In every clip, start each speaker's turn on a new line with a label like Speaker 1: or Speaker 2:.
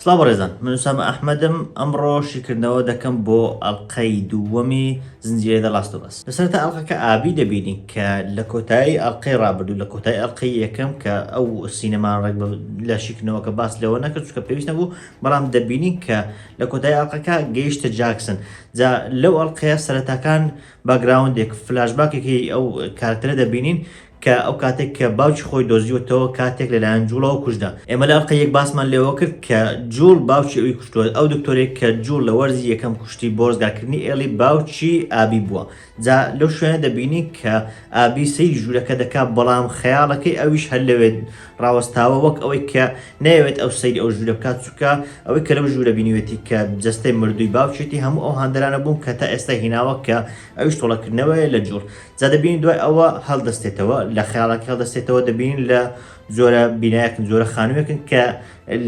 Speaker 1: سڵاو بەڕێزان من ئوسامە ئەحمەدم ئەمڕۆ شیکردنەوە دەکەم بۆ ئەڵلقەی دووەمی زنجیرەی دە لاست بەس لەسەرتا ئەڵلقەکە ئابی دەبینین کە لە کۆتایی ئەڵلقەی ڕابردوو لە کۆتای ئەڵلقەی یەکەم کە ئەو سینەمان ڕێک لە شیکردنەوەکە باس لەوە نەکرد چکە پێویست نەبوو بەڵام دەبینین کە لە کۆتای ئەڵلقەکە گەیشتە جاکسن جا لەو ئەڵلقەیە سەرەتاکان باکگراوندێک، فلاشباکێک هی ئەو کارەکتەرە دەبینین کە ئەو کاتێک کە باوکی خۆی دۆزیوەتەوە کاتێک لەلایەن جوڵەوە کوژرا. ئێمە لە ئەڵقەی یەک باسمان لەوە کرد کە جوڵ باوکی ئەوی کوشتووە. ئەو دکتۆرەی کە جوڵ لە وەرزی یەکەم کوشتی بۆ ڕزگارکردنی ئێڵی باوکی ئابی بووە. جا لەو شوێنە دەبینین کە ئابی سەیری ژوورەکە دەکات بەڵام خەیاڵەکەی ئەویش هەر لەوێ ڕاوەستاوە وەک ئەوەی کە نەیەوێت ئەو سەیری ئەو ژوورە بکات چووکە ئەوەی کە لەو ژوورە بینیوێتی کە جەستەی مردووی باوکێتی هەموو ئەو هاندەرانە بوون کە تا ئێستا هیناوە کە ئەویش تۆڵەکردنەوەیە لە جوڵ جادەبین دوای ئەوە هەڵدەستێتەوە لە خەیاڵەکە هەڵدەستێتەوە دەبین لە جۆرە بینایەکن جۆرە خانوویەکن کە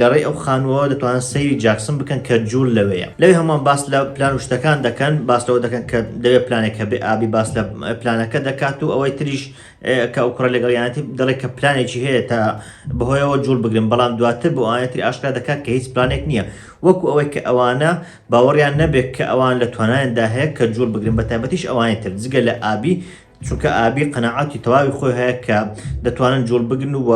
Speaker 1: لەڕێی ئەو خانوەوە دەتوان سەیری جاکسن بکەن کە جوول لەوەیە لەوێ هەمان باس لە پلان و شتەکان دەکەن باس لەوە دەکەن کە دەوێت پلانێک هەبێ ئابی باس لە پلانەکە دەکات و ئەوەی تریش کە ئەو کوڕە لەگەڵیانەتی دەڵێت کە پلانێکی هەیە تا بەهۆیەوە جوڵ بگرن بەڵام دواتر بۆ ئاەتری ئاشکرا دەکات کە هیچ پلانێک نییە وەکو ئەوەی کە ئەوانە باوەڕیان نەبێت کە ئەوان لە توانایاندا هەیە کە جوڵ بگرن بە تایبەتیش ئەوانی تر جگە لە ئابی چونکە ئابی قەنەعاتی تەواوی خۆی هەیە کە دەتوانن جوڵ بگرن و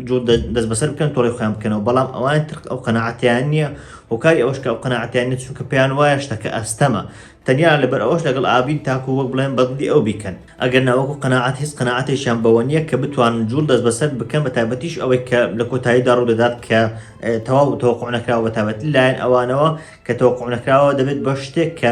Speaker 1: جوڵ دەست بەسەر بکەن تۆڵی خۆیان بکەنەوە بەڵام ئەوان تر ئەو قەنەعاتیان نییە هۆکاری ئەوش کە ئەو قەنەعاتیان نیە چونکە پێیان وایە شتەکە ئەستەمە تەنیا لەبەر ئەوەش لەگەڵ ئاڤین تاکو وەک بڵێن بەدڵی ئەو بیکەن ئەگەرنا وەکو قەناعەت هیچ قەناعەتێکیان بەوە نیە کە بتوانن جوڵ دەستبەسەر بکەن بەتایبەتیش ئەوەی کە لە کۆتاییدا ڕوودەدات کە تەواو تەوەقوع نەکراوە بەتایبەتی لایەن ئەوانەوە کە تەوەقوع نەکراوە دەبێت بە شتێک کە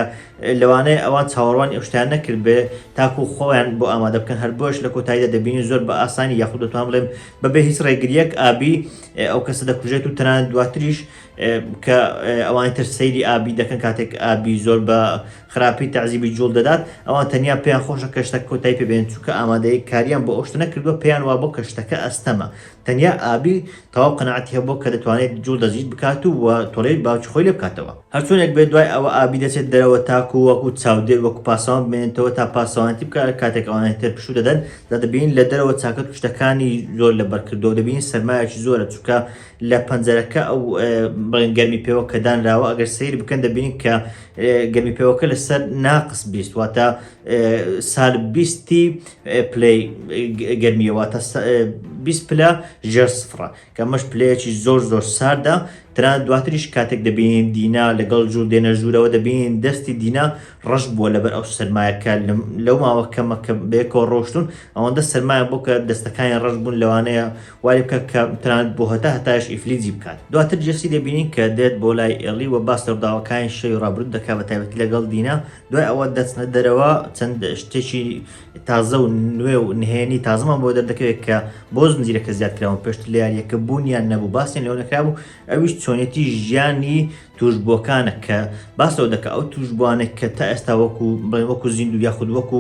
Speaker 1: لەوانەیە ئەوان چاوەڕوانی ئەو شتیان نەکردبێ تاکو خۆیان بۆ ئامادە بکەن هەر بۆیەش لە کۆتاییدا دەبینین زۆر بە ئاسانی یاخود دەتوان بڵێم بەبێ هیچ ڕێگریەک ئابی ئەو کەسە دەکوژێت و تەنانەت دواتریش کە ئەوانی تر سەیری ئابی دەکەن کاتێک ئابی زۆر بە خراپی تەعزیبی جوڵ دەدات ئەوان تەنیا پێیان خۆشە کە شتە کۆتای پێبێن چووکە ئامادەیە کاریان بۆ ئەوشتە نەکردووە پێیان وا بۆ کە شتەکە ئەستەمە تەنیا ئابی تەواو قەنەعەتی هەبووە کە دەتوانێت جوڵ دەزیت بکات و وە تۆڵەی باوکی خۆی لێ بکاتەوە هەرچۆنێک بێت دوای ئەوە ئابی دەچێت دەرەوە تاکو وەکو چاودێر وەکو پاسەوان بمێنێتەوە تا پاسەوانەتی بکات کاتێک ئەوانە تر پشوو دەدەن جا دەبینین لە دەرەوە چاکەت و شتەکانی زۆر لەبەر کردووە دەبینین سەرمایەکی زۆرە چووکە لە پەنجەرەکە ئەو بڵێن گەرمی پێوە کە دانراوە ئەگەر سیر بکەن دەبینین کە گەرمی پێوەکە لەسەر ناقس بیست واتە سال بیستی پلی گەرمیەوە تا 20 پلە ژێر سفرە کە مەش پلەیەکی زۆر زۆر ساردە تران دواتریش کاتێک دەبینین دینا لەگەڵ جوور دێنە ژوورەوە دەبینین دەستی دینا ڕەش بووە لەبەر ئەو سەرمایەکە لەو ماوە کەمەکە بێکۆ ڕۆشتون ئەوەندە سەرمایە بۆ کە دەستەکانی ڕەش بوون لەوانەیە وای بکات کە تەنانەت بۆ هەتا هەتایش ئیفلیجی بکات دواتر جێسی دەبینین کە دێت بۆ لای ئێڵی و باس لە ڕووداوەکانی شەوی ڕابرووت دەکات بە تایبەتی لەگەڵ دینا دوای ئەوە دەچنە دەرەوە چەند شتێکی تازە و نوێ و نهێنی تازەمان بۆ دەردەکەوێت کە بۆ زنجیرەکە زیادکراون پێشتر لە یاریەکە بوونیان نەبوو باسیان لەوە نەکرابوو ئەویش چۆنێتی ژیانی توشبووەکانە کە باس لەوە دەکات ئەو توشبووانێک کە تا ئێستا وەکو بڵێن وەکو زیندوو یاخود وەکو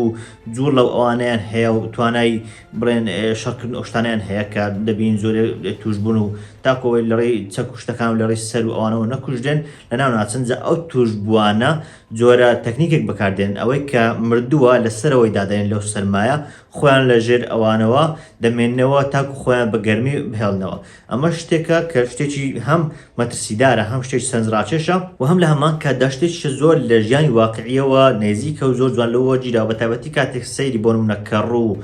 Speaker 1: جوور لەو ئەوانیان هەیە و توانای بڵێن شەڕکردن ئەوشتانیان هەیە کە دەبین زۆر توشببوون و تاکۆی لەڕێی چەک و شتەکان و لەڕێی سەر و ئەوانەوە نەکوژدێن لە ناو ناچن جا ئەو توشببووانە جۆرە تەکنیکێک بەکاردێن ئەوەی کە مردووە لە سەرەوەی دادێن لەو سەرمایە خۆیان لە ژێر ئەوانەوە دەمێنەوە تاکو خۆیان بە گەرمی بهێڵنەوە ئەمەش شتێکە کە شتێکی هەم مەترسیدارە، هەم شتێکی سەرنجڕاکێشە و هەم لە هەمان کاتدا شتێکیشە زۆر لە ژیانی واقعییەوە نێزیکە و زۆر جوان لەوە وەرگیراوە، بەتایبەتی کاتێک سەیری بۆ نموونە کەڕوو و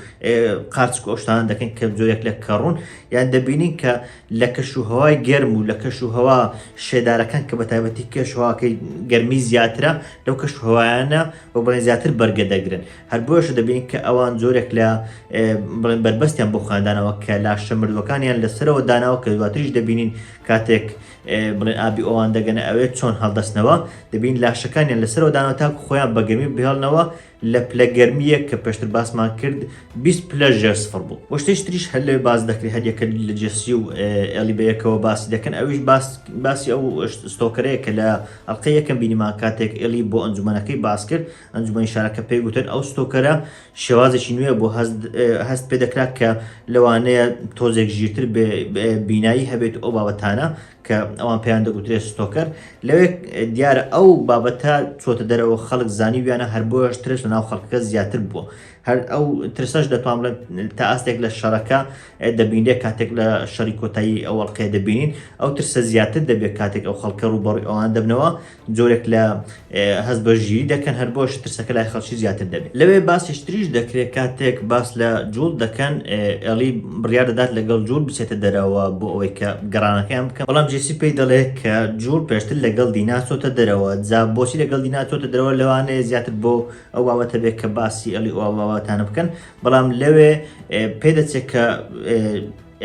Speaker 1: قارچک و ئەو شتانە دەکەین کە زۆرێک لە کەڕوون، یان دەبینین کە لە کەشوهەوای گەرم و لە کەشوهەوا شێدارەکان کە بەتایبەتی کەشوهەواکەی گەرمی زیاترە لەو کەشوهەوایانە بە بڕێ زیاتر بەرگە دەگرن. هەر بۆیەشە دەبینین کە ئەوان جۆرێک لە بڵێن بەربەستیان بۆ خاندانەوە کە لاشە مردوەکانیان لەسەرەوە داناوە کە دواتریش دەبینین کاتێک بڵێن ئابی ئەوان دەگەنە ئەوێ چۆن هەڵدەستنەوە دەبین لاشەکانیان لەسەرەوە دانەوە تاکو خۆیان بەگەرمی بهێڵنەوە لە پلە گەرمیە کە پێشتر باسمان کرد 20 پلە ژێر سفر بوو وشتیش تریش هەر لەوێ باز دەکری هەریەکە لە جێسی و ئەلی بەیەکەوە باسی دەکەن ئەویش باسی ئەو ستۆکەرەیە کە لە ئەلقەیەکەم بینیمان کاتێک ئەلی بۆ ئەنجومەنەکەی باس کرد ئەنجومەنی شارەکە پێی گوتن ئەو ستۆکەرە شێوازێکی نوێ بۆ هەست پێ دەکرات کە لەوانەیە تۆزێک ژیرتر بینایی هەبێت ئەو بابەتانە کە ئەوان پێیان دەگوترێت ستۆکەر لەوێ دیارە ئەو بابەتە چۆتە دەرەوە خەڵک زانی ویانە هەر بۆش ترس لە ناو خەڵکەکە زیاتر بووە هەر ئەو ترسەش دەتوان بڵێن تا ئاستێک لە شەڕەکە دەبینێت کاتێک لە شەری کۆتایی ئەوەڵقێ دەبینین ئەو ترسە زیاتر دەبێت کاتێک ئەو خەڵکە ڕووبەڕی ئەوان دەبنەوە جۆرێک لە هەست بە ژیری دەکەن هەر بۆش ترسەکە لای خەڵکی زیاتر دەبێت لەوێ باسیشتریش دەکرێت کاتێک باس لە جوڵ دەکەن ئەلی بڕیا دەدات لەگەڵ جوور بچێتە دەرەوە بۆ ئەوەی کە گەڕانەکەیان بکە بەڵام جێسی پێی دەڵێت کە جوور پێشتر لەگەڵ دینا چۆتە دەرەوە جا بۆچی لەگەڵ دینا چۆتە دەرەوە لەوانەیە زیاتر بۆ ئەو باوەتە بێت کە باسی ئەلی ئەوواواتانە بکەن بەڵام لەوێ پێدەچێت کە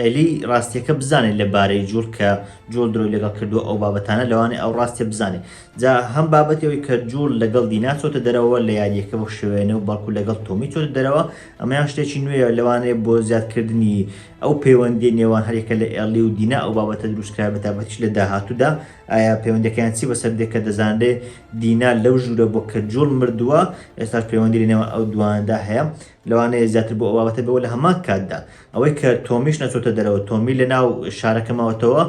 Speaker 1: ئەلی ڕاستیەکە بزانێت لە بارەی جوڵ کە جۆڵ درۆی لەگەڵ کردو ئەو بابەتانە لەوانێ ئەو ڕاستیە بزانێت جا هەم بابەتەوەی کە جوڵ لەگەڵ دینا چۆتە دەرەوە لە یاریەکە بۆ شوێنە و بەڵکو لەگەڵ تۆمی چۆتە دەرەوە ئەمەیان شتێکی نوێە لەوانێ بۆ زیادکردنی ئەو پەیوەندی نێوان هەرێکە لە ئێلی و دینا ئەو بابەتە دروستکرا بە تابەتیش لە داهاتوودا ئایا پەیوەندەکەیان چی بەسەر دێکە دەزانرێ دینا لەو ژوورە بۆ کە جوڵ مردووە ئێستا پەیوەندی لە نێوان ئەو دواندا هەیە لەوانەیە زیاتر بۆ ئەو بابەتە بێەوە لە هەمان کاتدا ئەوەی کە تۆمیش نەچۆتە دەرەوە تۆمی لە ناو شارەکە ماوەتەوە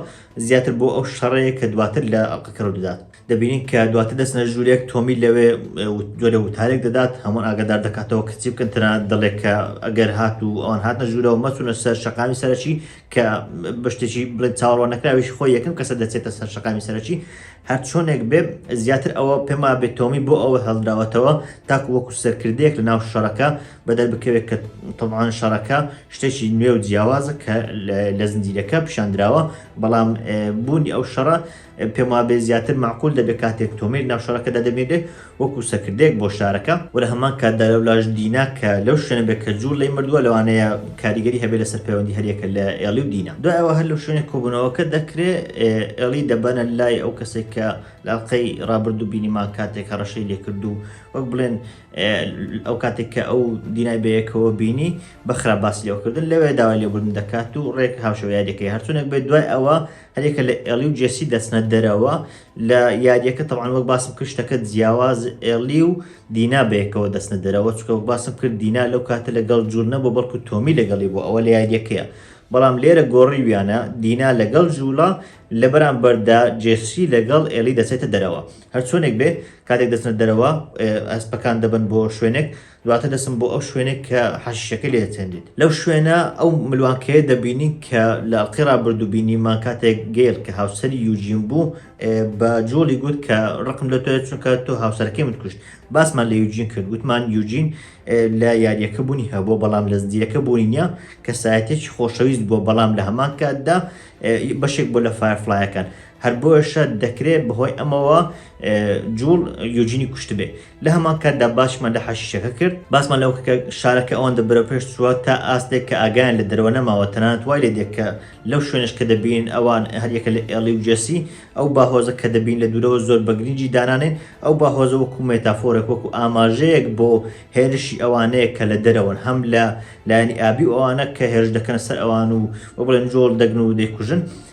Speaker 1: زیاتر بۆ ئەو شەڕەیە کە دواتر لە ئەڵلقەکەەوە دەدات دەبینین کە دواتر دەستنە ژوورێک تۆمی لەوێ جۆرە وتارێک دەدات هەموو ئاگادار دەکاتەوە کەچی بکەن تەنە دەڵێک کە ئەگەر هات و ئەوان هاتنە ژوورەوە مەچونە سەر شقامی سەرەکی کە بەشتێکی بڵێن چاوەڕوان نەکراویش خۆی یەکەم کەسە دەچێتە سەر شقامی سەرەکی هەرچۆنێک بێ زیاتر ئەوە پێم وابێ تۆمی بۆ ئەوە هەڵدراوەتەوە تاکو وەکو سەرکردەیەک لە ناو شەڕەکە بەدەر بکەوێت کە تەوان شەڕەکە شتێکی نوێ و جیاوازە کە لە زنجیرەکە پیشاندراوە بەڵام بوونی ئەو شەڕە پێم وابێ زیاتر معقول دەبێت کاتێک تۆمیر ناو شەڕەکەدا دەبێنێ وەکو سەکردەیەک بۆ شارەکە و لە هەمان کاتدا لەو لاش دینا کە لەو شوێنە بێت کە جوول لێی مردووە لەوانەیە کاریگەری هەبێت لەسەر پەیوەندی هەریەکە لە ئێڵی و دینا دوای ئەوە هەر لەو شوێنێک کۆبوونەوەکە دەکرێ ئێڵی دەبەنە لای ئەو کەسێک کە لاڵقەی ڕابرد و بینیمان کاتێک هەڕەشەی لێکرد و وەک بڵێن ئەو کاتێک کە ئەو دینای بەیەکەوە بینی بەخرا باسی لەوکردن لەوێ داوای لێبوردن دەکات و ڕێک هاوشەوە یادەکەی هەرچونێک بێت دوای ئەوە هەرێکە لە ئێڵی و جێسی دەچنە دەرەوە لە یاریەکە تەوان وەک باسم کرد شتەکە جیاواز ئێلی و دینا بەیەکەوە دەستنە دەرەوە چکە وەک باسم کرد دینا لەو کاتە لەگەڵ جوور نەبوو بەڵکو تۆمی لەگەڵی بۆ ئەوە لە یاریەکەیە بەڵام لێرە گۆڕی ویانە دینا لەگەڵ جووڵە لە بەرامبەردا جێسی لەگەڵ ئێلی دەچێتە دەرەوە هەرچۆنێک بێ کاتێک دەچنە دەرەوە ئەسپەکان دەبن بۆ شوێنێک دواتر دەچن بۆ ئەو شوێنەی کە حەشیشەکە لێ دەچێنریت. لەو شوێنە ئەو ملوانکەیە دەبینین کە لە ئەڵقەی ڕابردوو بینیمان کاتێک گەیل کە هاوسەری یوجین بوو بە جۆڵی گوت کە ڕقم لە تۆە چونکە تۆ هاوسەرەکەی من کوشت باسمان لە یوجین کرد گوتمان یوجین لە یاریەکە بوونی هەبوو بەڵام لە زدیەکە بوونی نیە کەسایەتێکی خۆشەویست بووە بەڵام لە هەمان کاتدا بەشێک بۆ لە فایرفلایەکان هەر بۆیەشە دەکرێت بەهۆی ئەمەوە جوڵ یۆجینی کوشتبێ لە هەمان کاتدا باشمان لە حەشیشەکە کرد باسمان لەو کە شارەکە ئەوەندە بەرەو پێش چووە تا ئاستێک کە ئاگیان لە دەرەوە نەماوە تەنانەت وای لێ دێکە لەو شوێنش کە دەبین ئەوان هەریەکە لە ئێڵی و جێسی ئەو باهۆزە کە دەبین لە دوورەوە زۆر بەگرنجی دانانێن ئەو باهۆزە وەکو مێتافۆرێک وەکو ئاماژەیەک بۆ هێرشی ئەوانەیە کە لە دەرەوەن هەم لە لایەنی ئابی ئەوانە کە هێرش دەکەن سەر ئەوان و وە بڵێن جۆڵ دەگن و دەیکوژن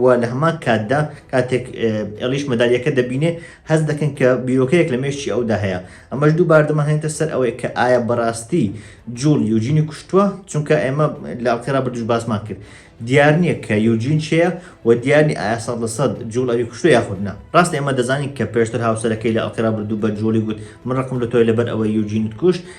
Speaker 1: و لە هەمان کاتدا کاتێک ئێڵیش مەدالیەکە دەبینێ هەست دەکەن کە بیرۆکەیەک لە مێشکی ئەودا هەیە ئەمەش دوو باردەمە هێنتە سەر ئەوەیە کە ئایا بەڕاستی جوڵ یوجینی کوشتووە چونکە ئێمە لاڵکەرا بردوش باسمان کرد دیار نییە کە یوجین چەیە و دیارنی ئایا سەد لە سەد جوڵ ئەوی کوشتو یاخودنا ڕاست ئێمە دەزانین کە پێشتر هاوسەرەکەی لە ئەڵکەرا بردوو بە جوڵی گوت من ڕقم لە تۆی لەبەر ئەوەی یوجینت کوشت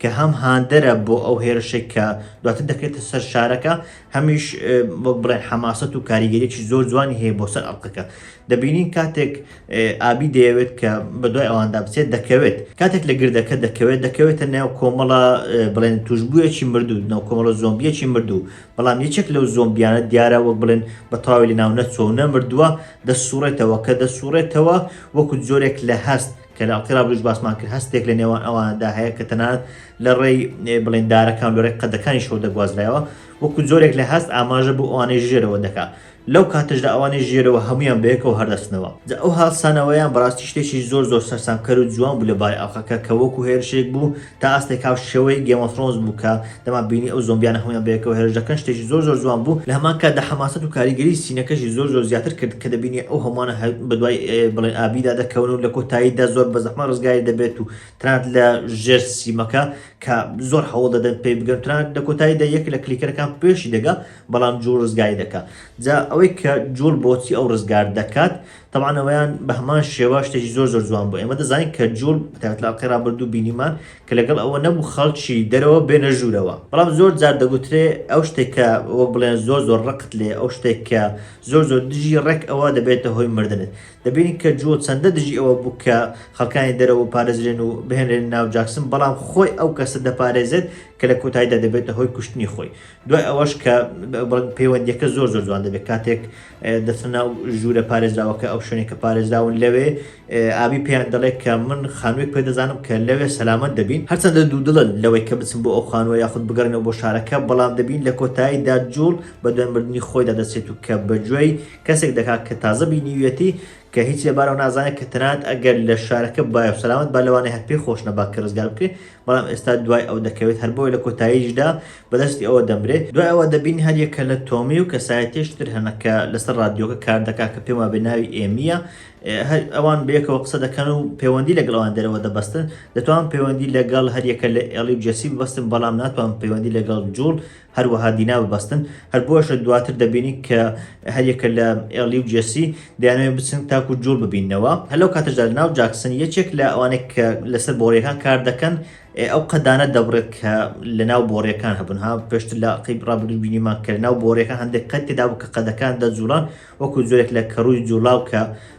Speaker 1: کە هەم هاندەرە بۆ ئەو هێرشەی کە دواتر دەکرێتە سەر شارەکە هەمیش وەک بڵێن حەماسەت و کاریگەریی زۆر جوانی هەیە بۆ سەر ئەڵقەکە دەبینین کاتێک ئابی دەیەوێت کە بە دوای ئەواندا بچێت دەکەوێت کاتێک لە گردەکە دەکەوێت دەکەوێتە ناو کۆمەڵە بڵێن توشببوویەکی مردو ناو کۆمەڵە زۆمبیەکی مردو بەڵام یەکێک لەو زۆمبیانە دیارە وەک بڵێن بە تەواوی لە ناو نەچۆ نەمردووە دەسوڕێتەوە کە دەسوڕێتەوە وەکو جۆرێک لە هەست کە لە ئەڵقیڕابروش باسمان کرد هەستێک لە نێوان ئەواندا هەیە کە تەنانەت لە ڕێی بڵێندارەکان لۆرەی قەدەکانی شەو دەگوازرایەوە وەکو جۆرێک لە هەست ئاماژە بۆ ئەوانەی ژێرەوە دەکا لەو کاتەشدا ئەوانەی ژێرەوە هەمویان بەیەکەوە هەردەستنەوە جا ئەو هاڵسانەوەیان بەڕاستی شتێکی زۆر زۆر سەرسامکەر و جوان بوو لەبارەی ئەڵقەکە کە وەکو هێرشێک بوو تا ئاستێک هاوشێوەی گێم ئۆف ثرۆنس بوو کە دەمان بینی ئەو زۆمبیانە هەموویان بەیەکەوە هێرش دەکەن شتێکی زۆر زۆر جوان بوو لە هەمان کاتدا حەماسەت و کاریگەری سینەکەشی زۆر زۆر زیاتر کرد کە دەبینی ئەو هەمووانە هەر بەدوای بڵێن ئابیدا دەکەون و لە کۆتاییدا زۆر بە زەحمە ڕزگاری دەبێت و تەنانەت لە ژێر سیمەکە کە زۆر هەوڵ دەدەن پێی بگەن تەنانەت لە کۆتاییدا یەک لە کلیکەرەکان پێشی دەگا بەڵام جوڵ ڕزگاری دەکا جا ئەوەی کە جوڵ بۆچی ئەو ڕزگار دەکات تەبعەن ئەوەیان بە هەمان شێوە شتێکی زۆر زۆر جوان بوو ئێمە دەزانین کە جوڵ بەتایبەت لە ئەڵقەی ڕابردوو بینیمان کە لەگەڵ ئەوە نەبوو خەڵکی دەرەوە بێنە ژوورەوە بەڵام زۆر جار دەگوترێ ئەو شتێک کە وەک بڵێن زۆر زۆر ڕقت لێ ئەو شتێک کە زۆر زۆر دژی ڕێک ئەوە دەبێتە هۆی مردنت دەبینین کە جوڵ چەندە دژی ئەوە بوو کە خەڵکانی دەرەوە پارێزرێن و بهێنرێن ناو جاکسن بەڵام خۆی ئەو کەسە دەپارێزێت کە لە کۆتاییدا دەبێتە هۆی کوشتنی خۆی دوای ئەوەش کە بڵێن پەیوەندیەکە زۆر زۆر جوان دەبێت کاتێک دەچنە ناو ژوورە پارێزراوەکە، ئەو شوێنەی کە پارێزراون لەوێ ئابی پێیان دەڵێت کە من خانوویەک پێ دەزانم کە لەوێ سەلامەت دەبین، هەرچەندە دوودڵن لەوەی کە بچن بۆ ئەو خانووە یاخود بگەڕێنەوە بۆ شارەکە، بەڵام دەبین لە کۆتاییدا جوڵ بە دوای مردنی خۆیدا دەچێت و کە بە گوێی کەسێک دەکات کە تازە بینیویەتی کە هیچی لەبارەوە نازانێت کە تەنانەت ئەگەر لە شارەکە بایە و سەلامەت با لەوانەیە هەر پێی خۆش نەبا کە ڕزگار بکرێت، بەڵام ئێستا دوای ئەو دەکەوێت، هەر بۆیە لە کۆتاییشدا بەدەستی ئەوە دەمرێت. دوای ئەوە دەبینین هەر یەک کەلە تۆمی و کەسایەتیەکی تر هەنە کە لەسەر ڕادیۆکە کار دەکا کە پێم وابێ ناوی ئێمییە. هەر ئەوان بەیەکەوە قسە دەکەن و پەیوەندی لەگەڵ ئەوان دەرەوە دەبەستن. دەتوانم پەیوەندی لەگەڵ هەر یەکە لە ئێڵی و جێسی ببەستم، بەڵام ناتوانم پەیوەندی لەگەڵ جوڵ هەروەها دینا ببەستن هەر بۆشە دواتر دەبینی کە هەریەکە لە ئێلی و جێسی دەیانەوێت بچن تاکو جوڵ ببینەوە هەلو کاتەشدا ناو جاکسن یەکێک لە ئەوانێک کە لەسەر بۆڕیەکان کار دەکەن ئەو قەدانە دەبڕێت کە لە ناو بۆڕیەکان هەبن ها پێشت لە قیب ڕابگرر بینیمان کە ناو بۆڕیەکان هەندێک قەت تێدا بوو کە قەدەکان دەجوڵان وەکو جۆرێک لە کەڕووی جوڵاو کە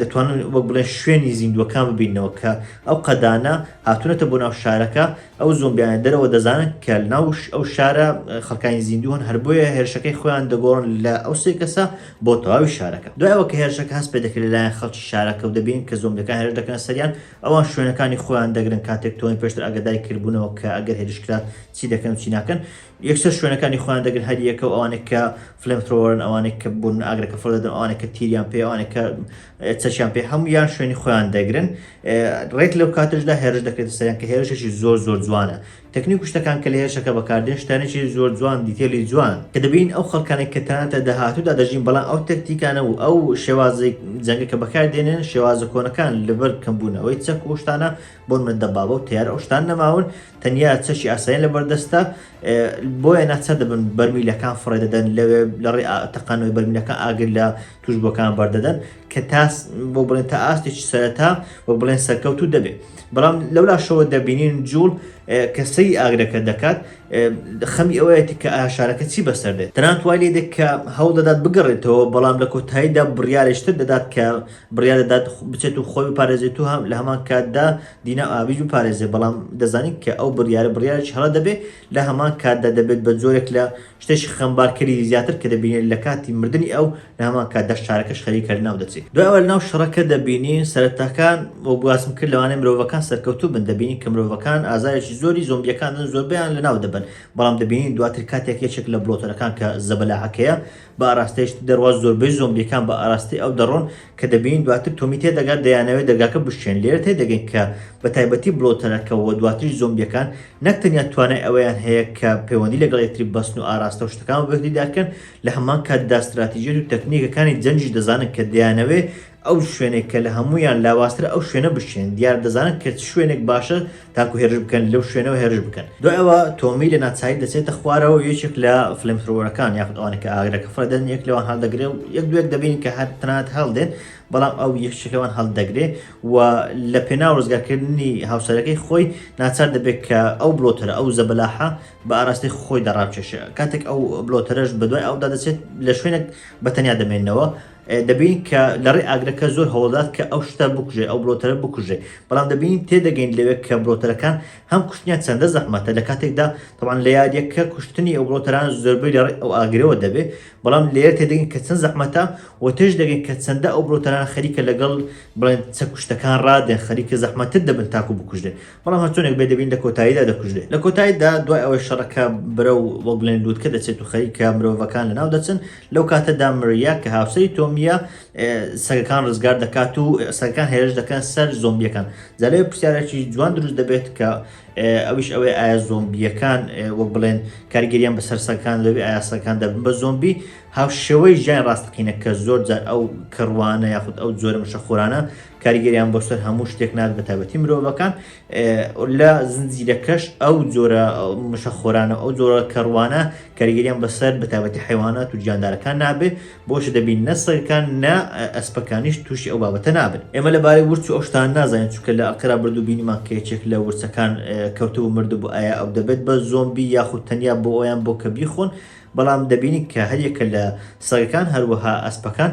Speaker 1: دەتوانن وەک بڵێن شوێنی زیندووەکان ببینەوە کە ئەو قەدانە هاتوونەتە بۆ ناو شارەکە ئەو زۆمبیانە دەرەوە دەزانن کە ناوش ئەو شارە خەکانی زیندووهن هەر بۆیە هێرشەکەی خۆیان دەگۆڕن لە ئەو سێ کەسە بۆ تەواوی شارەکە دوایەوە کە هێرشەکە هەست پێ دەکرێت لەلایەن خەڵکی شارەکە و دەبین کە زۆمبیەکان هێرش دەکەن سەریان ئەوان شوێنەکانی خۆیان دەگرن کاتێک تۆن پێشتر ئەگەدای کردبوونەوە کە ئەگەر هێرشکرا چی دەکەن و چی ناکەن یەکسەر شوێنەکانی خۆیان دەگرن هەر یەکە و ئەوانێک کە فلم ترۆرن ئەوانێک کە بوون ئاگرەکە فڕ دەدەن ئەوانێک کە تیریان پێ ئەوانێک کە چەچیان پێ هەموو یان شوێنی خۆیان دەگرن ڕێک لەو کاتشدا هێرش دەکرێت سەریان کە هێرشێکی زۆر زۆر جوانە تەکنی کوشتەکان کە لە هێرشەکە بەکاردێن شتانێکی زۆر جوان دیتێلی جوان کە دەبین ئەو خەڵکانێک کە تەناتە داهاتوودا دەژین بەڵام ئەو تەکتیکانە و ئەو شێوازی جەنگەکە بەکاردێنێن شێوازە کۆنەکان لەبەر کەمبوونەوەی چەک و شتانە بۆ منە دەبابە و تیار ئەو شتان نەماون تەنیا چەشی ئاسایی لە بەردەستە بۆیە ناچە دەبن بەرمیلەکان فڕێ دەدەن لەوێ لە ڕێ تەقانەوەی بەرمیلەکە ئاگر لە توش بۆکان بەردەدەن کە تاس بۆ بڵێن تا ئاستێکی سەرەتا بۆ بڵێن سەرکەوت و دەبێت بەڵام لەولاشەوە دەبینین جوڵ کەسەی ئاگرەکە دەکات خەمی ئەوەیەتی کە ئاشارەکە چی بەسەر دێت تەنانتوای لێ دێت کە هەوڵ دەدات بگەڕێتەوە بەڵام لە کۆتاییدا بڕیارشتر دەدات کە بڕیار دەدات بچێت و خۆی بپارێزێت و لە هەمان کاتدا دینا و ئابیش بپارێزێت بەڵام دەزانین کە ئەو بڕیارە بڕیارێکی هەڵە دەبێت لە هەمان کاتدا دەبێت بە جۆرێک لە شتێکی خەمبارکەری زیاتر کە دەبینێت لە کاتی مردنی ئەو لە هەمان کاتدا شارەکەش خەریکە لەناو دەچێت دوای ئەوە لەناو شەڕەکە دەبینین سەرەتاکان وەک باسم کرد لەوانەیە مرۆڤەکان سەرکەوتوو بن دەبینین کە مرۆڤەکان ئازارێکی زۆری زۆمبیەکان دەدەن زۆربەیان لەناو دەبەن بەڵام دەبینین دواتر کاتێک یەکێک لە بڵۆتەرەکان کە زەبەلاحەکەیە بە ئاراستەی شتی دەرواز زۆربەی زۆمبیەکان بە ئاراستەی ئەو دەڕۆن کە دەبینین دواتر تۆمی تێدەگات دەیانەوێت دەرگاکە بشکێن لێرە تێدەگەین کە بە تایبەتی بڵۆتەرەکە و دواتریش زۆمبیەکان نەک تەنیا توانای ئەوەیان هەیە کە پەیوەندی لەگەڵ یەکتری بەستن و ئاراستە و شتەکان بەبەکدیدارکەن لە هەمان کاتدا ستراتیژیەت و تەکنیکەکانی جەنگیش دەزانن کە دەیانەوێت ئەو شوێنێک کە لە هەموویان لاوازترە ئەو شوێنە بشێن دیار دەزانن کە چ شوێنێک باشە تاکو هێرش بکەن لەو شوێنەوە هێرش بکەن دوای ئەوە تۆمی لە ناچاری دەچێتە خوارەوە یەکێک لە فلمترۆرەکان یاخود ئەوانە کە ئاگرەکە فڕێدەن یەک لەوان هەڵدەگرێ و یەک دوێک دەبین کە هەر تەنات هەڵدێن بەڵام ئەو یەکشەکەوان هەڵدەگرێ و لە پێنا ڕزگارکردنی هاوسەرەکەی خۆی ناچار دەبێت کە ئەو بڵۆتەرە ئەو زەبەلاحە بە ئاراستەی خۆی دەڕاکێشە کاتێک ئەو بلۆتەرەش بەدوای ئەودا دەچێت لە شوێنێک بەتەنیا دەمێنەوە دەبینین کە لەڕێی ئاگرەکە زۆر هەوڵدات کە ئەو شتە بکوژێ ئەو بڵۆتەرە بکوژێ بەڵام دەبینین تێدەگەین لەوێ کە بڵۆتەرەکان هەم کوشتنیان چەندە زەحمەتە لە کاتێکدا تەبان لە یاریەکە کوشتنی ئەو بڵۆتەران زۆربەی لەڕێی ئەو ئاگرەوە دەبێ بەڵام لێرە تێدەگەین کە چەند زەحمەتە و تێش دەگەین کە چەندە ئەو بڵۆتەران خەریکە لەگەڵ بڵێن چەکوشتەکان ڕادێن خەریکە زەحمەتتر دەبن تاکو بکوژێ بەڵام هەرچۆنێک بێ دەبین لە کۆتاییدا دەکوژرێت لە کۆتاییدا دوای ئەوەی شەڕەکە برە و وەک بڵێن لووتکە دەچێت و خەریکە مرۆڤەکان لە ناو دەچن لەو کاتەدا مریا کە هاوسەری تۆمیە سەگەکان ڕزگار دەکات و سەگەکان هێرش دەکەن سەر زۆمبیەکان جالێ پرسیارێکی جوان دروست دەبێت کە ئەوش ئەوەی ئایا زۆمبیەکان وەک بڵێن کاریگەریان بە سەرسەکان دەبێت ئایاسەکان دەبن بە زۆمبی هاوشێوەی ژیان ڕاستەقینە کە زۆر جار ئەو کڕوانە یاخود ئەو جۆرە مشەخۆرانە کاریگەریان بۆ سەر هەموو شتێک نات بە تابەتی مرۆڤەکان لە زنجیرەکەش ئەو جۆرە مشە خۆرانە ئەو جۆرە کەڕوانە کاریگەریان بەسەر بە تابەتی حیوانات و گیاندارەکان نابێ بۆش دەبین نەسەرکان نا ئەسپەکانیش تووشی ئەو بابەتە نابن ئێمە لەبارەی ورچ و ئەوشتان نازانین چکە لە ئەقرا بردو بینیمان کێچێک لە ورچەکان کەوتو و مرد بۆ ئایا ئەو دەبێت بە زۆمبی یاخود تەنیا بۆ ئەویان بۆ کە بیخۆن بەڵام دەبینین کە هەریەکە لە سەگەکان هەروەها ئەسپەکان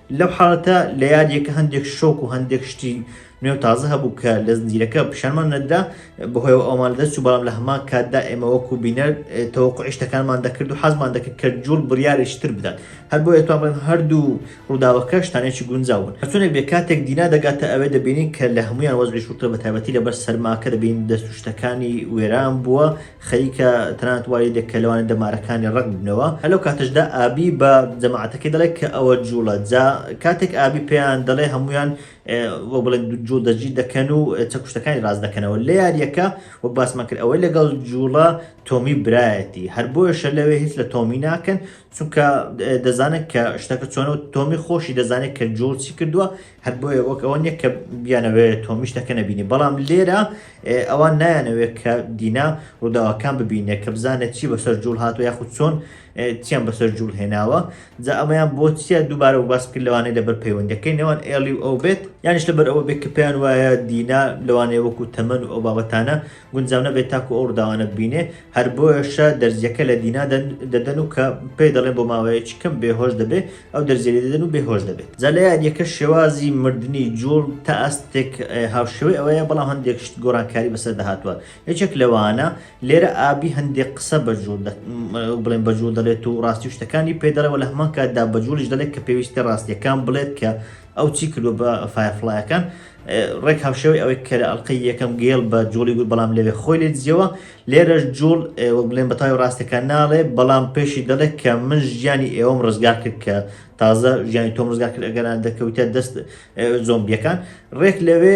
Speaker 1: لەو حاڵەتە لە یاریەکە هەندێک شۆک و هەندێک شتی نوێ تازە هەبوو کە لە زنجیرەکە پیشانمان نەدرا بەهۆی ئەومان دەست و بەڵام لە هەمان کاتدا ئێمە وەکو بینەر تەوەکو عشتەکانمان دەکرد و حەزمان دەکرد کە جوڵ بڕیارێکی تر بدات هەر بۆ ئێتوان بڵێن هەردوو ڕووداوەکە شتانێکی گونجاون هەچونێک بێ کاتێک دینا دەگاتە ئەوێ دەبینین کە لە هەمویان وەزعی شوتە بە تایبەتی لەبەر سەرماکە دەبین دەست و شتەکانی وێران بووە خەریکە تەنانەت وای لێدێ کە لەوانەیە دەمارەکانی ڕەق ببنەوە. هەر لەو کاتەشدا ئابی بە جەماعەتەکەی دەڵێ کە ئەوە جووڵە. جا کاتێک ئابی پێیان دەڵێ هەموویان وەک بڵێن جووڵ دەستگیر دەکەن و چەکوشتەکانی ڕاست دەکەنەوە. لە یارییەکە وەک باسمان کرد ئەوەی لەگەڵ جووڵە تۆمی برایەتی. هەر بۆیەشە لەوێ هیچ لە تۆمی ناکەن چونکە دەزانن کە شتەکە چۆنە و تۆمی خۆشی دەزانێ کە جووڵ چی کردووە. هەر بۆیە وەک ئەوە نیە کە بیانەوێ تۆمیش تەکە نەبینی بەڵام لێرە ئەوان نایانەوێت کە دینا ڕووداوەکان ببینێت کە بزانێت چی بەسەر جوڵ هاتو یاخود چۆن چیان بەسەر جوڵ هێناوە جا ئەمەیان بۆ چیە دووبارە و باس کرد لەوانەیە لەبەر پەیوەندەکەی نێوان ئێڵی و ئەو بێت یانیش لەبەر ئەوە بێت کە پێیان وایە دینا لەوانەیە وەکو تەمەن و ئەو بابەتانە گونجاو نەبێت تاکو ئەو ڕداوانە ببینێ هەر بۆیشە دەرزیەکە لە دینا دەدەن و کە پێ دەڵێن بۆ ماوەیەکی کەم بێهۆش دەبێت ئەو دەرزیێ دەدەن و بێهۆش دەبێت جا لە یادیەکە شێوازی مردنی جوڵ تا ئەستێک هاوشێوەی ئەوەیە بەڵام هەندێک شت گۆڕانکاری بەسەر دەهاتوە یەکێک لەوانە لێرە ئابی هەندێک قسە بە جوڵ بڵێن بە جوڵ دەڵێت و ڕاستی شتەکانی پێ دەڵێەوە لە هەمان کاتدا بە جوڵیش دەڵێت کە پێویستە ڕاستیەکان بڵێت کە ئەو چی کردو بە فایفلایەکان ڕێک هاوشێوەی ئەوەی کە لە ئەڵقەی یەکەم گێڵ بە جوڵی گوت بەڵام لەوێ خۆی لێ دزیەوە لێرەش جوڵ وەک بڵێن بە تاوی ڕاستەکان ناڵێ بەڵام پێشی دەڵێت کە من ژیانی ئێوەم ڕزگار کرد کە تازە ژیانی تۆم ڕزگار کرد ئەگەران دەکەوتە دەست زۆمبیەکان ڕێک لەوێ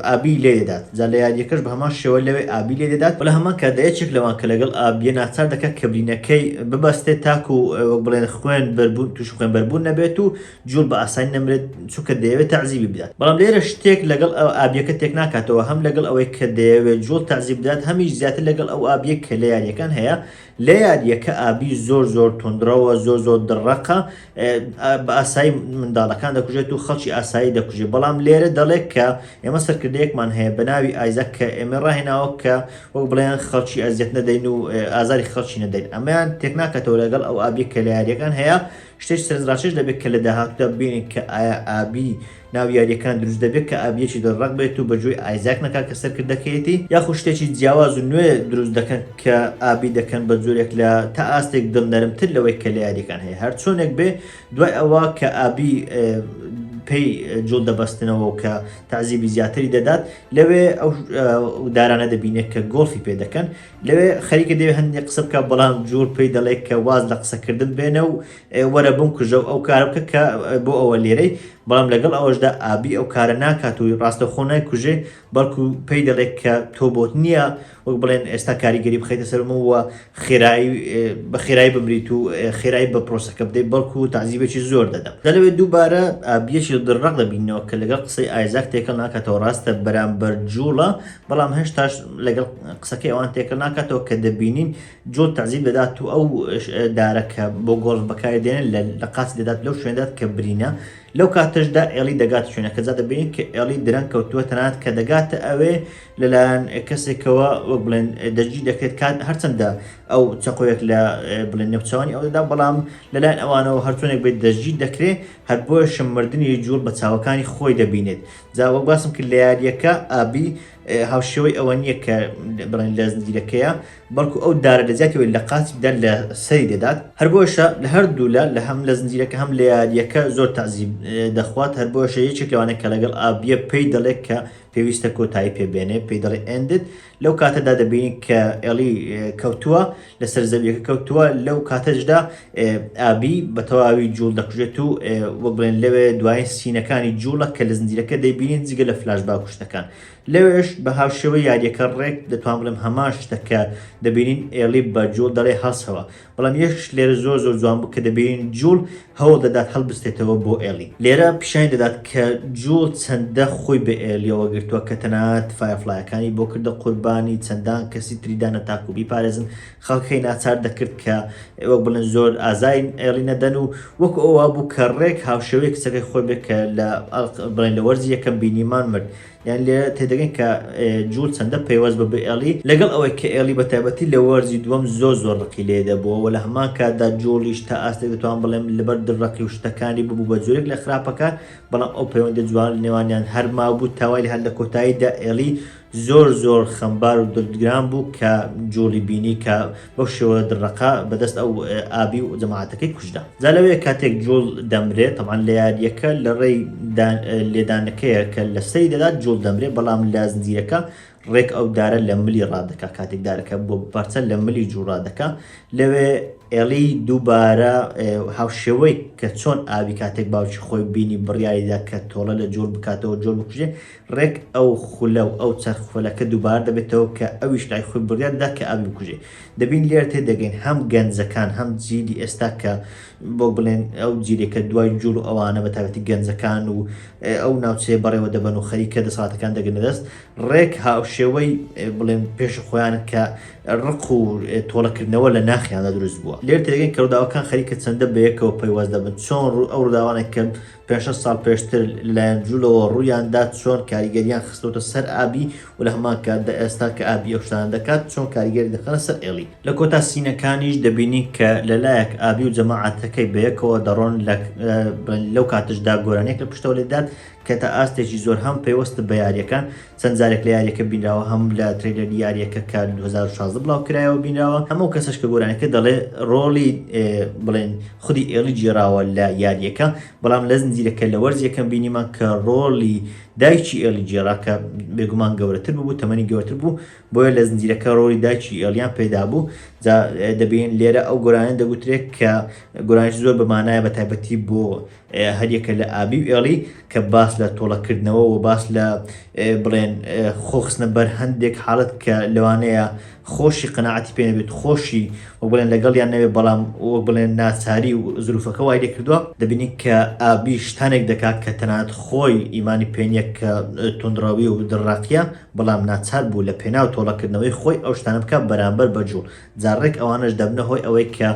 Speaker 1: ئابی لێ دەدات جا لە یاریەکەش بە هەمان شێوە لەوێ ئابی لێ دەدات بە لە هەمان کە دەیەچێک لەوان کە لەگەڵ ئابیە ناچار دەکات کە برینەکەی ببەستێت تاکو وەک بڵێن خوێن بەربوون توش خوێن بەربوون نەبێت و جوول بە ئاسانی نەمرێت چونکە دەیەوێت تەعزیبی بدات بەڵام لێرە شتێک لەگەڵ ئەو ئابیەکە تێک ناکاتەوە هەم لەگەڵ ئەوەی کە دەیەوێت جوول تەعزیب بدات هەمیش زیاتر لەگەڵ ئەو ئابیە کە لە یاریەکان هەیە لە یاریەکە ئابی زۆر زۆر تونندڕەوە زۆر زۆر دڕەقە بە ئاسایی منداڵەکان دەکوژێت و خەڵکی ئاسایی دەکوژێت بەڵام لێرە دەڵێت کە ئێمە سەرکردەیەکمان هەیە بە ناوی ئایزە کە ئێمە ڕاهێناوە کە وەک بڵێن خەڵکی ئەزیەت نەدەین و ئازاری خەڵکی نەدەین ئەمەیان تێک ناکاتەوە لەگەڵ ئەو ئابی کە لە یاریەکان هەیە شتێکی سەرنجڕاکێش دەبێت کە لە داهاتوودا ببینین کە ئایا ئابی ناو یاریەکان دروست دەبێت کە ئابیەکی دەڕق بێت و بەگوێی ئایزاک نەکات کە سەرکردەکەیەتی یاخو شتێکی جیاواز و نوێ دروست دەکەن کە ئابی دەکەن بە جۆرێک لە تا ئاستێک دڵ نەرمتر لەوەی کە لە یاریەکان هەیە هەر چۆنێک بێ دوای ئەوە کە ئابی پێی جوڵ دەبەستنەوە و کە تعزیبی زیاتری دەدات لەوێ ئەو دارانە دەبینێت کە گۆڵفی پێ دەکەن لەوێ خەریکە دەوێ هەندێ قسە بکە بەڵام جوور پێی دەڵێ کە واز لە قسەکردن بێنە و وەرە بم کوژە و ئەو کار بکە کە بۆ ئەوە لێرەی بەڵام لەگەڵ ئەوەشدا ئابی ئەو کارە ناکات و ڕاستەخۆ نای کوژێ بەڵکو پێی دەڵێت کە تۆ بۆت نییە وەک بڵێن ئێستا کاریگەری بخیتە سەرمەوە خێرایی بە خێرایی بمریت و خێرایی بە پرۆسەکە بدەیت بەڵکو و تعزیبێکی زۆر دەدەم دەلەوێ دووبارە ئابیەکی دڕق دەبینەوە کە لەگەڵ قسەی ئایزاک تێکەڵ ناکاتەوە ڕاستە بەرامبەر جوڵە بەڵام هێشتاش لەگەڵ قسەکەی ئەوان تێکەڵ ناکاتەوە کە دەبینین جۆ تەزیب دەدات و ئەو دارەکە بۆ گۆڵف بەکاری دێن لە قاچ دەدات لەو شوێندات کە برینە لەو کاتەشدا ئێڵی دەگات شوێنەکە جا دەبین کە ئێڵی درەنگ کەوتووە تەنات کە دەگاتە ئەوێ لەلایەن کەسێکەوە وەک بڵێن دەجی دەکرێت کات هەرچەندە ئەو چقۆیەک لە بڵێن نەوچوانی ئەودا بەڵام لەلایەن ئەوانەوە هەرچۆنێک بێت دەجی دەکرێت هەر بۆشم مردنی جوڵ بە چاوەکانی خۆی دەبینێت جا وەک باسم کرد لە یاریەکە ئابی هاوشێوەی ئەوە نییە کە بڵێن لە زنجیرەکەیە بەڵکو ئەو دارە لە زیاتیەوەی لە قاتیدا لە سەری دەدات هەر بۆشە لە هەردوولا لە هەم لە زنجیرەکە هەم لە یاریەکە زۆر تازیب دەخوات هەر بۆشە یەکێک لەوانە کە لەگەڵ ئابیە پێی دەڵێت کە پێویستە کۆتایی پێبێنێ پێی دەڵێ ئەندت لەو کاتەدا دەبینین کە ئێڵی کەوتووە لەسەر زەویەکە کەوتووە لەو کاتەشدا ئابی بە تەواوی جوڵ دەکوژێت و وەک بڵێن لەوێ دوایین سینەکانی جوڵە کە لە زنجیرەکە دەیبینین جگە لە فلاش با کوشتەکان لەوێش بە هاوشێوە یاریەکە ڕێک دەتوان بڵێم هەمان شتەکە دەبینین ئێڵی بە جوڵ دەڵێ هەڵسەوە بەڵام یەکیش لێرە زۆر زۆر جوان بوو کە دەبینین جوڵ هەوڵ دەدات هەڵبستێتەوە بۆ ئێڵی لێرە پیشانی دەدات کە جوڵ چەندە خۆی بە ئێلیەوە گرتووە کە تەنانەت فایەرفڵایەکانی بۆ کردە قوربانی چەندان کەسی تری دانا تاکو بیپارێزن خەڵکەکەی ناچار دەکرد کە وەک بڵێن زۆر ئازاین ئێڵی نەدەن و وەک ئەوە بوو کە ڕێک هاوشێوەی کچەکەی خۆی بێت کە لە بڵێن لە وەرزی یەکەم بینیمان مرد یان لێرە تێدەگەین کە جوول چەندە پەیوەست بە بئێڵی لەگەڵ ئەوەی کە ئێڵی بە تایبەتی لە وەرزی دووەم زۆر زۆر ڕقی لێ دەبووە و لە هەمان کاتدا جووڵیش تا ئاستێک دەتوان بڵێم لەبەر دڕەقی و شتەکانی ببوو بە جۆرێک لە خراپەکە بەڵام ئەو پەیوەندی جوان لە نێوانیان هەر مابوو تاوای لە هەر لە کۆتاییدا ئێڵی زۆر زۆر خەمبار و دڵگران بوو کە جووڵی بینی کە بەو شێوە دڕەقە بەدەست ئەو ئابی و جەماعەتەکەی کوژرا جا لەوەیە کاتێک جوڵ دەمرێت تەمان لە یاریەکە لە ڕێی لێدانەکەیە کە لە سەری دەدات جوڵ دەمرێت بەڵام لە زنجیرەکە ڕێک ئەو دارە لە ملی ڕادەکە کاتێک دارەکە بۆ بپارچە لە ملی جوڕادەکە لەوێ ئێڵی دووبارە هاوشێوەی کە چۆن ئاوی کاتێک باوکی خۆی بینی بڕیاریدا کە تۆڵە لە جۆر بکاتەوە جۆر بکوژێ ڕێک ئەو خولە و ئەو چەرخ خولەکە دووبارە دەبێتەوە کە ئەویش لای خۆی بڕیار دەدات کە ئاوی بکوژێ. دەبین لێرە تێدەگەین هەم گەنجەکان هەم جیلی ئێستا کە بۆک بڵێن ئەو جیلێ کە دوای جوڵ و ئەوانە بە تایبەتی گەنجەکان و ئەو ناوچەیە بەڕێوە دەبەن و خەریکە دەسەڵاتەکان دەگرنە دەست ڕێک هاوشێوەی بڵێن پێش خۆیان کە ڕق و تۆڵەکردنەوە لە ناخیاندا دروست بووە. لێرە تێدەگەین کە ڕووداوەکان خەریکە چەندە بەیەکەوە پەیوەست دەبن چۆن ئەو ڕووداوانێک کە پێنج شەش ساڵ پێشتر لەلایەن جوولەوە ڕوویان دا چۆن کاریگەریان خستۆتە سەر ئابی و لە هەمان کاتدا ئێستا کە ئابی ئەو شتانە دەکات چۆن کاریگەری دەخەنە سەر ئێڵی. لە کۆتا سینەکانیش دەبینین کە لە لایەک ئابی و جەماعەتەکەی بە یەکەوە دەڕۆن لەو کاتەشدا گۆرانیەک لە پشتەوە لێدات کە تا ئاستێکی زۆر هەم پەیوەستە بە یاریەکان چەند جارێک لە یاریەکە بینراوە هەم لە تریلەری یاریەکە کە 2016 بڵاو کرایەوە بینراوە هەموو کەسش کە گۆرانەکە دەڵێ ڕۆڵی بڵێن خودی ئێڵی جێراوە لە یاریەکە بەڵام لە زنجیرەکە لە وەرز یەکەم بینیمان کە ڕۆڵی دایکی ئێڵی جێرا کە بێگومان گەورەتر بوو تەمەنی گەورتر بوو بۆیە لە زنجیرەکە ڕۆڵی دایکی ئێڵیان پێدا بوو دەبین لێرە ئەو گۆرانە دەگوترێت کە گۆرانش زۆر بەمانایە بە تایبەتی بۆ هەریەکە لە ئابی و ئێڵی کە باس لە تۆڵەکردنەوە و باس لە بڵێن خۆخستنە بەر هەندێک حاڵت کە لەوانەیە خۆشی قەنەعەتی پێ نەبێت خۆشی وەک بڵێن لەگەڵیان نەبێت بەڵام وەک بڵێن ناچاری و زروفەکە وای لێ کردووە دەبینین کە ئابی شتانێک دەکات کە تەنانەت خۆی ئیمانی پێ نییە کە تونڕەوی و دڕاقیە بەڵام ناچار بوو لە پێناو تۆڵەکردنەوەی خۆی ئەو شتانە بکە بەرامبەر بە جوڵ جاڕێک ئەوانەش دەبنە هۆی ئەوەی کە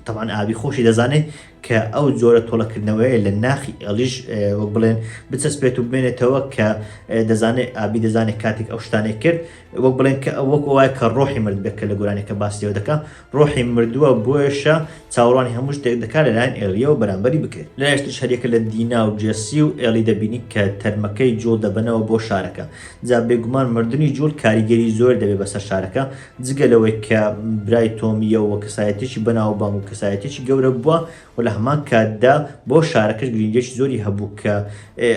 Speaker 1: تەوان ئابی خۆشی دەزانێت کە ئەو جۆرە تۆڵەکردنەوەیە لە ناخی ئێڵیش وەک بڵێن بچەسپێت و بمێنێتەوە کە دەزانێت ئابی دەزانێت کاتێک ئەو شتانێک کرد وەک بڵێن کە وەک وایە کە ڕۆحی مرد بێت کە لە گۆرانەکە باسیەوە دەکە ڕۆحی مردووە بۆیشە چاوەڕوانی هەموو شتێک دەکات لەلایەن ئێڵیەوە بەرامبەری بکرێت لە هێشت شەریەکە لە دینا و جێسی و ئێڵی دەبینی کە تەرمەکەی جوڵ دەبنەوە بۆ شارەکە جا بێگومان مردنی جوڵ کاریگەری زۆر دەبێت بەسەر شارەکە جگە لەوەی کە برای تۆمی یە و کەسایەتێکی بەناوبانگ و کەسایەتێکی گەورە بووە و لە هەمان کاتدا بۆ شارەکەش گرنگیەکی زۆری هەبوو کە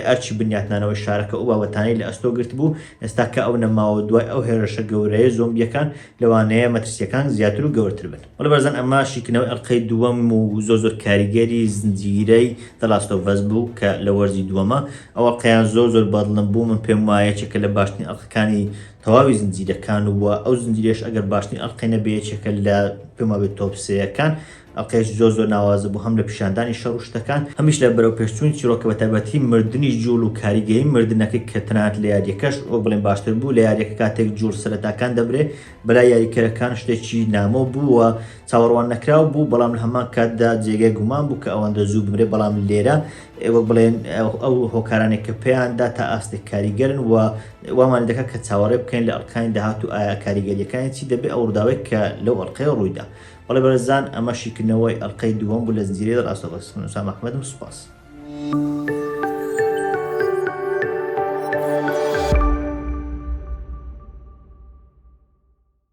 Speaker 1: ئەرچی بنیاتنانەوەی شارەکە ئەو بابەتانەی لە ئەستۆ گرت بوو ئێستا کە ئەو نەماوە دوای ئەو هێرشە گەورەیە زۆمبیەکان لەوانەیە مەترسیەکان زیاتر و گەورەتر بن. بەڵێ بەرزان ئەمە شیکردنەوەی ئەڵقەی دووەم و زۆر زۆر کاریگەری زنجیرەی The Last of Us بوو کە لە وەرزی دووەمە ئەو ئەڵقەیان زۆر زۆر بەدڵم بوو من پێم وایە یەکێکە لە باشترین ئەڵقەکانی تەواوی زنجیرەکان و ئەو زنجیرەش ئەگەر باشترین ئەڵقەی نەبێ یەکێکە لە پێم وابێت تۆپ سێیەکان ئەڵقەیەکی زۆر زۆر ناوازە بوو هەم لە پیشاندانی شەڕ و شتەکان هەمیش لە بەرەوپێشچوونی چیرۆکە بە تایبەتی مردنی جووڵ و کاریگەری مردنەکەی کە تەنانەت لە یارییەکەش وەک بڵێین باشتر بوو لە یارییەکە کاتێک جووڵ سەرەتاکان دەبرێ بەلای یاریکەرەکان شتێکی نامۆ بوو و چاوەڕوان نەکراو بوو بەڵام لە هەمان کاتدا جێگای گومان بوو کە ئەوەندە زوو بمرێ بەڵام لێرە وەک بڵێن ئەو هۆکارانێک کە پێیاندا تا ئاستێک کاریگەرن و وامان دەکات کە چاوەڕێ بکەین لە ئەڵقەکانی داهات و ئایا کاریگەریەکانی چی دەبێ ئەو ڕووداوێک کە لەو ئەڵلقەیە ڕوویدا بەڵێ بەرزان ئەمە شیکردنەوەی ئەڵلقەی دووەم بوو لە زنجیرەی دە ڕاستە بەس من سام ئەحمەدم سوپاس.